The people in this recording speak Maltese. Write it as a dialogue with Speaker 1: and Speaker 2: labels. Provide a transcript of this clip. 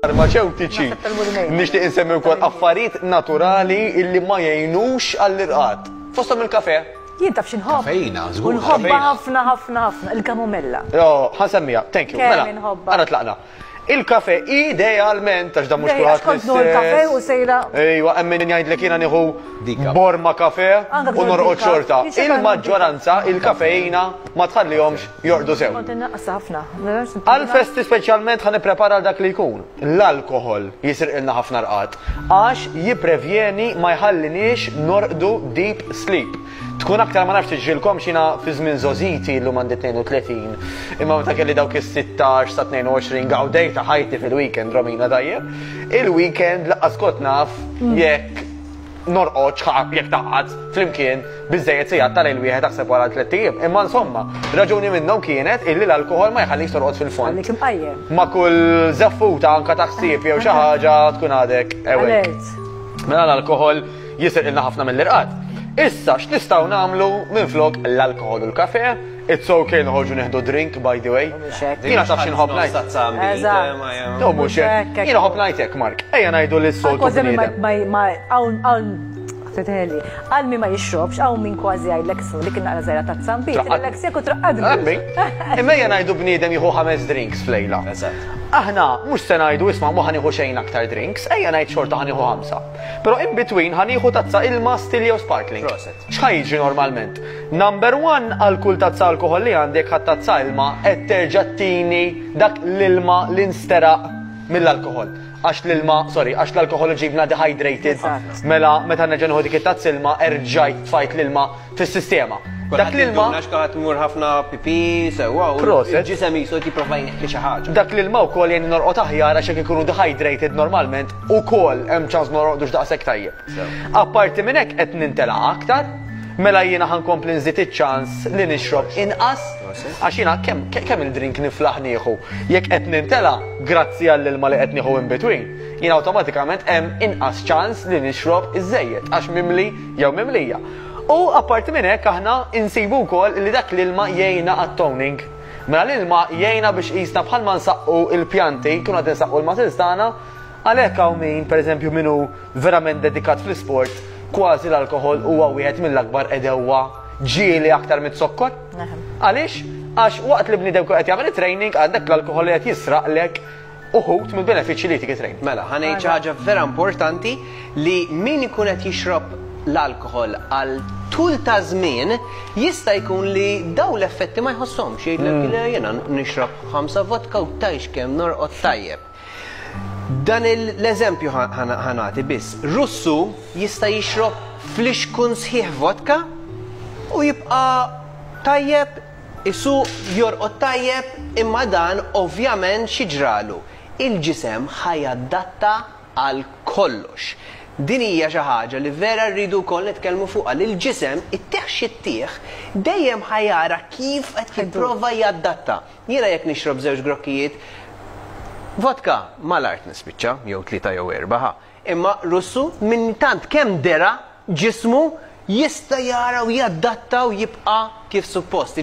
Speaker 1: farmaceutiċi. Nixtieq insemmi wkoll affarijiet naturali illi ma jgħinux għall-irqad. Fosthom il-kafe. Jien taf xinħobb.
Speaker 2: Kafejna, żgur. Nħobba
Speaker 3: ħafna
Speaker 2: ħafna ħafna il-kamomella. Jo, ħansemmija,
Speaker 1: thank you. Mela, għara tlaqna. Il-kafè idealment, għax dan mhux kulħadd. Għax kont nieħu l-kafè u
Speaker 2: sejra. Ejwa, hemm min jgħidlek
Speaker 1: jiena nieħu borma kafè u norqod xorta. Il-maġġoranza il-kafeina ma tħallihomx jorqdu sew. Kont innaqqasha ħafna.
Speaker 2: Għall-festi
Speaker 1: speċjalment ħa nipprepara għal dak li jkun. L-alkoħol jisriqilna ħafna rqad għax jipprevjeni ma jħalliniex norqdu deep sleep. Tkun aktar ma nafx tiġrilkomx jiena fi żmien żgħożiti llum għandi 32 imma meta kelli dawk is-sittax sa 22 gawdejt ta' ħajti fil-weekend Romina tajjeb. Il-weekend laqqas kont naf jekk norqodx ħa jekk taqgħad flimkien biżżejjed sigħat ta' lejl wieħed aħseb wara tliet ijiem. Imma insomma, raġuni minnhom kienet illi l-alkoħol ma jħallikx torqod fil-fond. Jħallik imqajjem. Ma'
Speaker 2: kull
Speaker 1: żeffuta anke ta' ħsieb jew xi ħaġa tkun għadek awake. Alert. Mela l-alkoħol jisirqilna ħafna mill-irqad. Issa, x'nistgħu nagħmlu minflok l-alkoħol u l-kafe? It's ok noħorġu neħdu drink, by the way. Jiena taf xi nħobb ngħid. No, mhux hekk. Jiena ħobb ngħid hekk, Mark. Ejja ngħidu li s-soltu. Kważi ma hawn hawn
Speaker 2: titħeli. Għal min ma jixrobx, hawn min kważi għajdlek ismu dik naqra żgħira ta' tzambi, tillek seku traqqadni. Imma hija ngħidu
Speaker 1: bniedem jieħu ħames drinks flejla. Aħna mhux se ngħidu isma' ma ħanieħu xejn aktar drinks, ejja ngħid xorta ħanieħu ħamsa. Però in between ħa nieħu tazza ilma still jew sparkling. Proset. X'ħa jiġri normalment? Number one għal kull tazza alkoħol li għandi jekk ħadt tazza ilma qed terġa' tini dak l-ilma li nsteraq mill-alkoħol. Għax l-ilma, sorry, għax l-alkoħol iġibna dehydrated. Mela meta nerġa' nieħu dik it-tazza ilma erġajt tfajt l-ilma fis-sistema. Dak l-ilma. Għax kaħat mur ħafna
Speaker 3: pipi, sewa, u ġisem jisu jiprofa jneħħi xi ħaġa. Dak l-ilma wkoll jgħin
Speaker 1: norqod aħjar għax jekk ikunu dehydrated normalment ukoll hemm ċans norqodux daqshekk tajjeb. Apparti minn hekk qed nintela' aktar, mela jiena ħankompli nżid iċ-ċans li nixrob inqas għax jiena kemm il-drink niflaħ nieħu. Jekk qed nintela' grazzi għall-ilma li qed nieħu in between, jien awtomatikament hemm inqas ċans li nixrob iżejjed għax mimli jew mimlija. U apparti minn hekk aħna insibu wkoll li dak l-ilma jgħinna għat-toning. Mela l-ilma jgħinna biex qisna bħalma nsaqqu l-pjanti, nkunu qed insaqqu l-muscles tagħna, għalhekk hawn min, pereżempju min hu verament dedikat fl-isport, kważi l-alkoħol huwa wieħed mill-akbar għedewwa ġieli aktar miz-zokkor. Għaliex? Għax waqt li bniedem ikun qed jagħmel it-training għandek l-alkoħol li qed jisraqlek uħud mill-benefiċċji li ticket rate. Mela, ħa ngħid xi ħaġa
Speaker 3: vera importanti li min ikun qed jixrob l-alkoħol għal tul ta' żmien jista' jkun li dawn l-effetti ma jħosshomx. Jgħidlek le jiena nixrob ħamsa vodka u tgħix kemm norqod tajjeb. Dan l-eżempju ħa nagħti biss. Russu jista' jixrob flixkun sħiħ vodka u jibqa' tajjeb Is-suq jorqod tajjeb imma dan ovvjament xi ġralu? Il-ġisem ħa jadatta għal kollox. Din hija xi ħaġa li vera rridu wkoll nitkellmu fuqha li l-ġisem, ittih x'ittih, dejjem ħa jara kif qed jipprova jadatta. Jiena jekk nixrob żewġ grokkijiet vodka, mal-art nispiċċa, jew tlieta jew erbgħa ħa. Imma Russu minn tant kemm dera ġismu jista' jara u jadatta u jibqa' kif suppost.